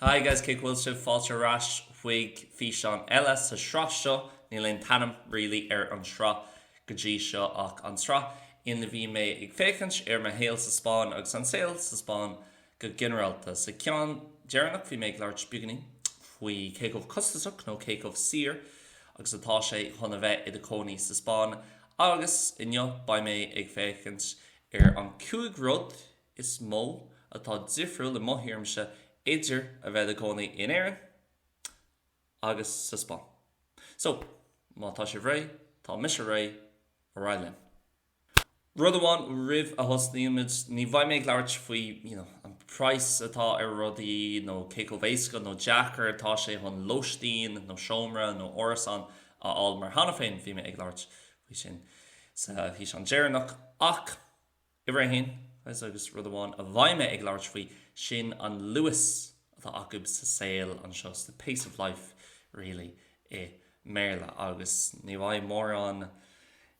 Haigh guys, cén chaoi a bhfuil sibh, fáilte ar ais chuig físeán eile sa tsraith seo, níl aon t-ainm really ar an sraith go dtí seo ach an tsraith ina bhí mé ag féachaint ar mo shaol sa Spáinn agus an saol sa Spáinn Go ginearálta, sa ceann deireanach bhí mé ag labhairt beagáinín faoi cé chomh costasach, nó cé chomh saor agus atá sé chun a bheith i do chónaí sa Spáinn, agus inniu beidh mé ag féachaint ar an 5 rud is mó atá difriúil, i mo thuairimse, idir a bheith i do chónaí in Éirinn agus sa Spáinn. So, má tá sibh réidh, tá mise réidh, ar aghaidh linn! Rud amháin roimh a thosnaímid, ní bheidh mé ag labhairt faoi an price atá ar rudaí nó cé chomh éasca nó deacair atá sé chun lóistín nó seomra nó árasán a fháil mar cheana féin bhí mé ag labhairt faoi sin sa físeán deireanach ach uimhir a haon agus rud amháin a bheidh mé ag labhairt faoi sin an luas atá acu sa saol anseo, the pace of life really i mBéarla agus ní bheidh mórán,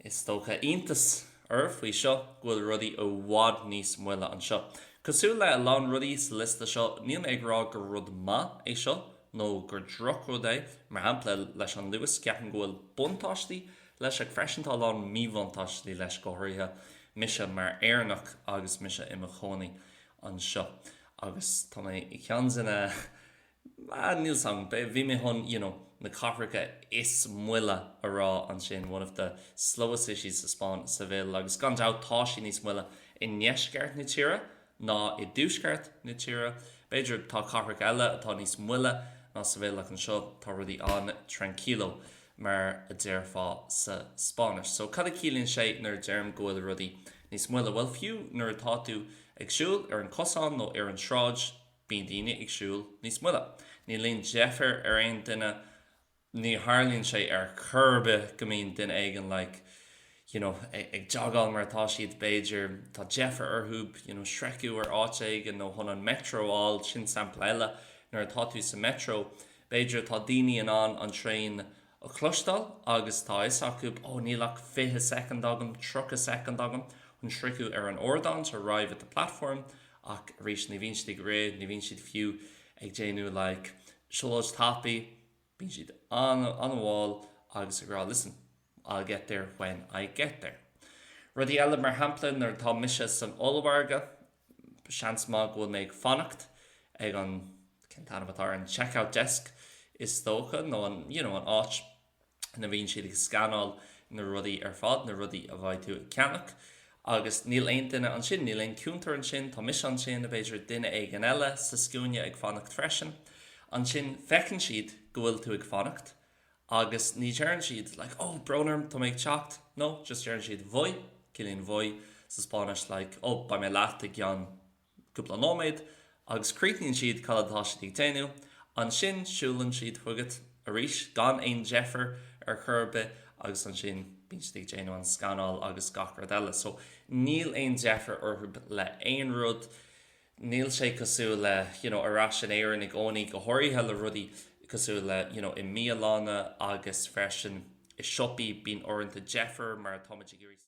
is dócha, iontas oraibh faoi seo go bhfuil rudaí i bhfad níos moille anseo. Cosúil le a lán rudaí sa liosta seo, níl mé ag rá gur rud maith é seo nó gur drochrud é, mar shampla leis an luas, ceapaim go bhfuil buntáistí leis ach freisin tá a lán míbhuntáistí leis, go háirithe mise mar Éireannach agus mise i mo chónaí anseo agus tá mé i gceann dos na. ah, níl 's agam, bhí mé chun, you know, na cathracha is moille a rá ansin, one of the slowest cities sa Spáinn, Seville, agus gan dabht tá sé níos moille i ndeisceart na tíre ná i dtuaisceart na tíre. B'fhéidir tá cathracha eile atá níos moille ná Seville ach anseo tá rudaí an-tranquilo mar a déarfá sa Spáinnis. So cad a chiallaíonn sé nuair a deirim go bhfuil rudaí níos moille? Bhuel, fiú nuair atá tú ag siúl ar an cosán nó ar an tsráid, Bíonn daoine ag siúl níos moille. Ní bhíonn deifir ar aon duine, ní tharlaíonn sé ar chor ar bith go mbíonn duine éigin like, you know, ag jogáil mar atá siad, b'fhéidir, tá deifir orthu, you know, sroicheadh ar áit éigin nó chun an Metro a fháil, sin sampla eile, nuair atá tú sa Metro, b'fhéidir atá daoine in ann an traein a a chloisteáil agus tá a fhios acu, ó níl ach 20 soicind agam, 30 soicind agam chun sroicheadh ar an ardán, to arrive at the platform, ach arís ní bhíonn siad ag rith, ní bhíonn siad fiú ag déanamh like siúlóid tapaidh, bíonn siad an-mhall agus ag rá listen, I'll get there when I get there. Rudaí eile, mar shampla nuair atá mise san ollmhargadh, Seans maith go bhfuil mé ag fanacht ag an, cén t-ainm atá ar an checkout desk is dócha, nó an, you know, an áit ina bhíonn siad ag scanáil na rudaí ar fad, na rudaí a bheidh tú ag ceannach. Agus níl aon duine ansin, níl aon cúntar ansin, tá mise ansin, b'fhéidir duine éigin eile sa scuaine ag fanacht freisin. Ansin feiceann siad go bhfuil tú ag fanacht. Agus ní deireann siad like, oh, brón orm, tá mé ag teacht. No, just deireann siad voy, ciallaíonn voy sa Spáinnis like, oh, beidh mé leat i gceann cúpla nóiméad. Agus críochnaíonn siad cad atá siad ag déanú. Ansin siúlann siad chugat arís gan aon deifir ar chor ar bith agus ansin bíonn siad ag déanú an scanáil agus gach rud eile. So níl aon deifir orthu le haon rud. níl sé cosúil le you know ar ais in Éirinn i gcónaí, go háirithe le rudaí cosúil le you know i mbialanna agus freisin i siopaí, bíonn uaireanta deifir mar tá muid ag iarraidh.